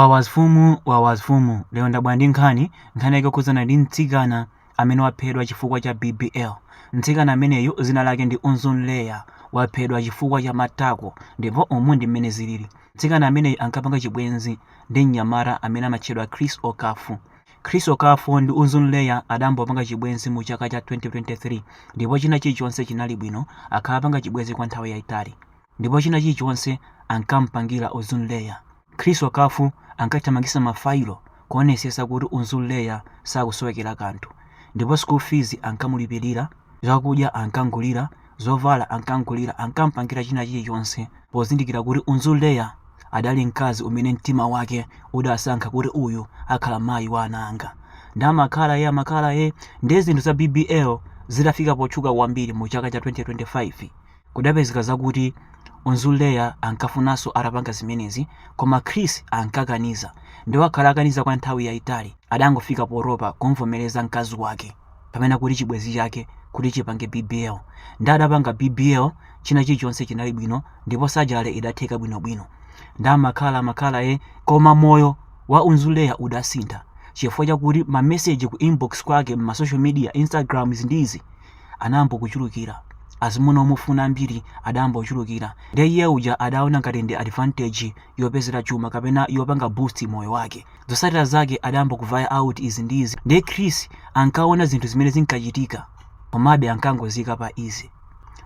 Wawazfumu Wawazfumu lero ndabwera ndi nkhani nkhani yake yokhudzana ndi mtsikana amene waphedwa chifukwa cha BBL mtsikana ameneyu dzina lake ndi Unzun Leya waphedwa chifukwa cha matako ndipo umu ndi mmene zilili mtsikana ameneyu ankapanga chibwenzi ndi mnyamata amene amatchedwa Chris Okafor Chris Okafor ndi Unzun Leya adambopanga chibwenzi mu chaka cha 2023 ndipo china chilichonse chinali bwino akhala apanga chibwenzi kwa nthawi yayitali ndipo china chilichonse ankampangira Unzun Leya Chris Okafor ankathamangisa ma failo kuonesesa kuti Unzun Leya sakusowekera kanthu ndipo school fees ankamulipilira, zakudya ankamgulira, zovala ankamgulira ankampangira china chilichonse pozindikira kuti Unzun Leya adali mkazi umene mtima wake udasankha kuti uyu akhala mayi wa ana anga nde amakhala ee amakhala ee nde zinthu za BBL zitafika potchuka kwambiri mu chaka cha 2025 Kudapezeka zakuti Unzun Leya ankafunanso atapanga zimenezi koma Chris ankakaniza. Nde wakhala akaniza kwa nthawi yaitali. Adangofika potopa kumvomereza mkazi wake kapena kuti chibwenzi chake kuti chipange bbl. Nde adapanga bbl china chilichonse chinali bwino ndipo surgery idatheka bwinobwino. Nde amakhala amakhala eh. Koma moyo wa Unzun Leya udasintha chifukwa chakuti ma message ku inbox kwake mma social media, instagrams ndi izi, anayamba kuchulukira azimuna omufuna ambiri adayamba kuchulukira ndiye iye uja adaona ngati ndi advantage yopezera chuma kapena yopanga boost moyo wake zotsatira zake adayamba kuvaya out izi ndi izi ndiye chris ankaona zinthu zimene zinkachitika komabe ankangoziika pa easy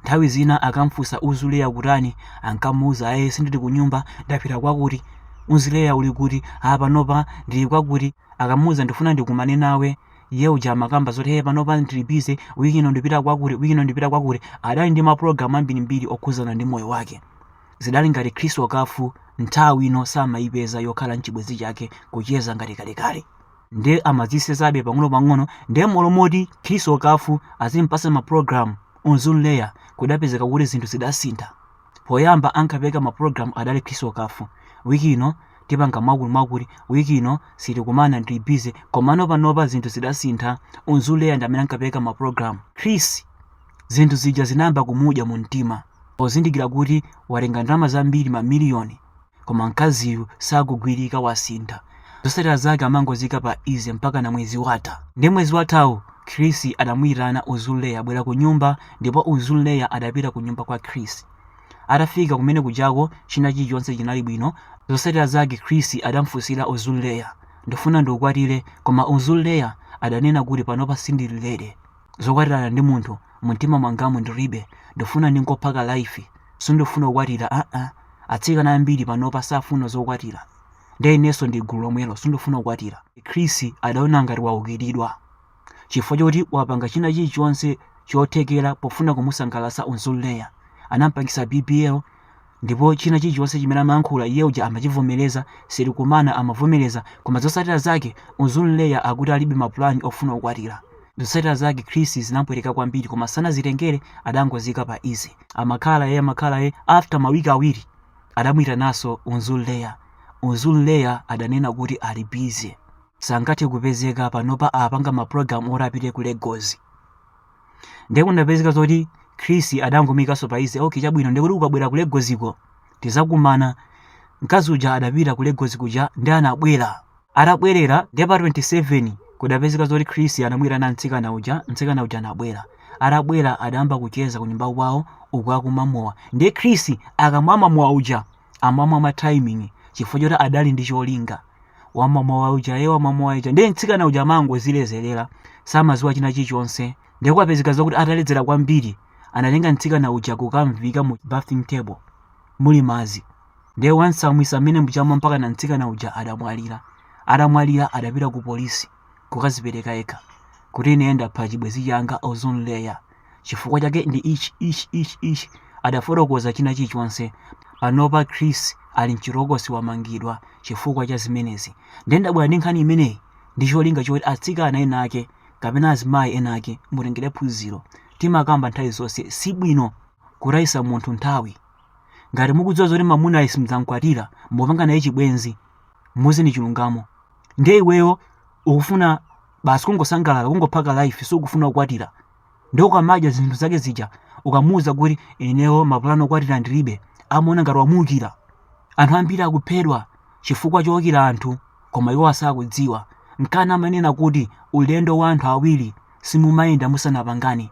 nthawi zina akamfunsa Unzun Leya ukutani ankamuuza aye sindili kunyumba ndapita kwakuti Unzun Leya uli kuti panopa ndili kwakuti akamuuza ndifuna ndikumane nawe Iye uja amakamba zoti hey panopa ndili busy, week ino ndipita kwakuti, week ino ndipita kwakuti. Adali ndi mapulogalamu ambirimbiri okhudzana ndi moyo wake. Zidali ngati Chris Okafor nthawi ino samaipeza yokhala n'chibwenzi chake kucheza ngati kalekale. Nde amazisenzabe pang'onopang'ono, nde m'malo moti Chris Okafor azimpatsa mapulogalamu Unzun Leya, kudapezeka kuti zinthu zidasintha. poyamba ankapereka mapulogalamu adali Chris Okafor wiki ino tipanga mwakuti mwakuti wiki ino sitikumana ndili busy komano panopa zinthu zidasintha Unzun Leya ndi amene ankapereka mapulogalamu chris zinthu zija zinayamba kumudya mu mtima pozindikira kuti watenga ndalama zambiri mamiliyoni Koma mkaziyu sakugwirika wasintha. Zotsatira zake amangoziika pa easy mpakana mwezi watha. Ndiye mwezi wathawu Chris adamuitana Unzun Leya bwera kunyumba ndipo Unzun Leya adapita kunyumba kwa Chris. Atafika kumene kujako china chilichonse chinali bwino. Zotsatira zake Chris adamfunsira Unzun Leya ndifuna ndikukwatire koma Unzun Leya adanena kuti panopa sindili ready. zokwatirana ndi munthu mumtima mwangamu ndiribe ndifuna ndingophaka life sindifuna kukwatira aa atsikana ambiri panopa safuna zokwatira nde inenso ndi gulu lomwelo sindifuna kukwatira chris adaona ngati waukiridwa chifukwa choti wapanga china chilichonse chothekera pofuna kumusangalatsa Unzunleya anampangisa bbl Ndipo china chilichonse chimene amayankhula iye uja amachivomereza, sitikunama amavomereza, koma zotsatira zake Unzunleya akuti alibe ma plan ofuna kukwatira. Zotsatira zake Chris zinamupweteka kwambiri koma sanazitengere adangoziika pa easy. Amakhala yee amakhala yee, after ma week awiri adamuitananso Unzunleya. Unzunleya adanena kuti ali busy sangathe kupezeka panopa apanga ma program oti apite ku Lagos. ndiye kudapezeka zoti chris adangomuikanso pa easy ok chabwino ndikuti ukabwera ku lagos ko tidzakumana mkazi uja adapita ku lagos kuja nde anabwera atabwerera ndiye pa 27 kudapezeka zoti chris anamuitana mtsikana uja mtsikana uja anabwera atabwera adayamba kucheza kunyumba kwawo uku akumwa mowa ndiye chris akamamwa mowa uja amamwa ma timing chifukwa choti adali ndi cholinga wamwa mowa uja e wamwa mowa uja ndiye mtsikana uja amangodziledzerera samadziwa china chilichonse ndiye kwapezeka zakuti ataledzera kwambiri anatenga mtsikana uja kukamuika mu bathing table muli madzi ndiye wamtsamwitsa mmenemuja mpaka na mtsikana uja adamwalira atamwalira adapita ku polisi kukadzipereka yekha kuti ine ndapha chibwenzi changa unzunleya chifukwa chake ndi ichi ichi ichi ichi adafotokoza china chilichonse panopa chris ali mchitokosi wamangidwa chifukwa cha zimenezi nde ndabwera ndi nkhani imeneyi ndi cholinga choti atsikana ena ake kapena azimayi ena ake mutengere phunziro timakamba nthawi zonse si bwino kutayitsa munthu nthawi ngati mukudziwa zoti mamuna uyu simdzamkwatira mupanga naye chibwenzi muuzeni chilungamo nde iweyo ukufuna basi kungosangalala kungophaka life sukufuna kukwatira ndiye ukamadya zinthu zake zija ukamuwuza kuti inewo mapulani okwatira ndilibe amaona ngati wamuukira anthu ambiri akuphedwa chifukwa choukira anthu koma iwo asakudziwa nkana amanena kuti ulendo wa anthu awiri simumayenda musanapangane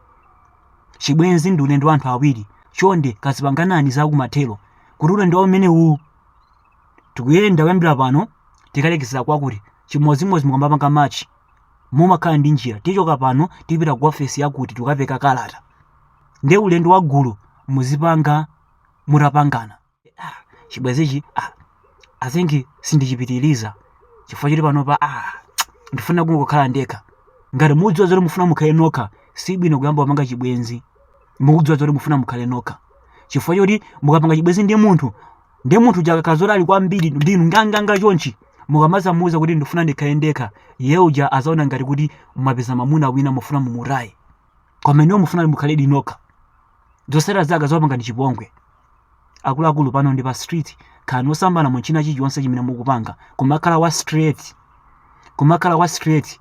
chibwenzi ndi ulendo wa anthu awiri chonde kazipanganani zakumathero kuti ulendo umenewu tikuyenda kuyambira pano tikalekezera kwakuti chimodzimodzi mukamapanga march mumakhala ndi njira tichoka pano tipita ku ofesi yakuti tikapereka kalata nde ulendo wa gulu muzipanga mutapangana Ah, chibwenzichi ah, i think sindichipitiriza chifukwa choti panopa ah, ndifuna kungokhala ndekha ngati mudziwa zoti mufuna mukhale nokha si bwino kuyamba kupanga chibwenzi mukudziwa zoti mufuna mukhale nokha chifukwa choti mukapanga chibwenzi ndi munthu ndi munthu uja akakhala zoti ali kwambiri ndi inu nganganga chonchi mukamazamuuza kuti ndifuna ndikhale ndekha iye uja azaona ngati kuti mwapeza mamuna wina mufuna mumutaye koma inuyo mufuna mukhale nokha zosera zake zopanga ndi chipongwe akuluakulu pano ndi pa street khalani osambala mu china chilichonse chimene mukupanga kumakhala wa straight kumakhala wa straight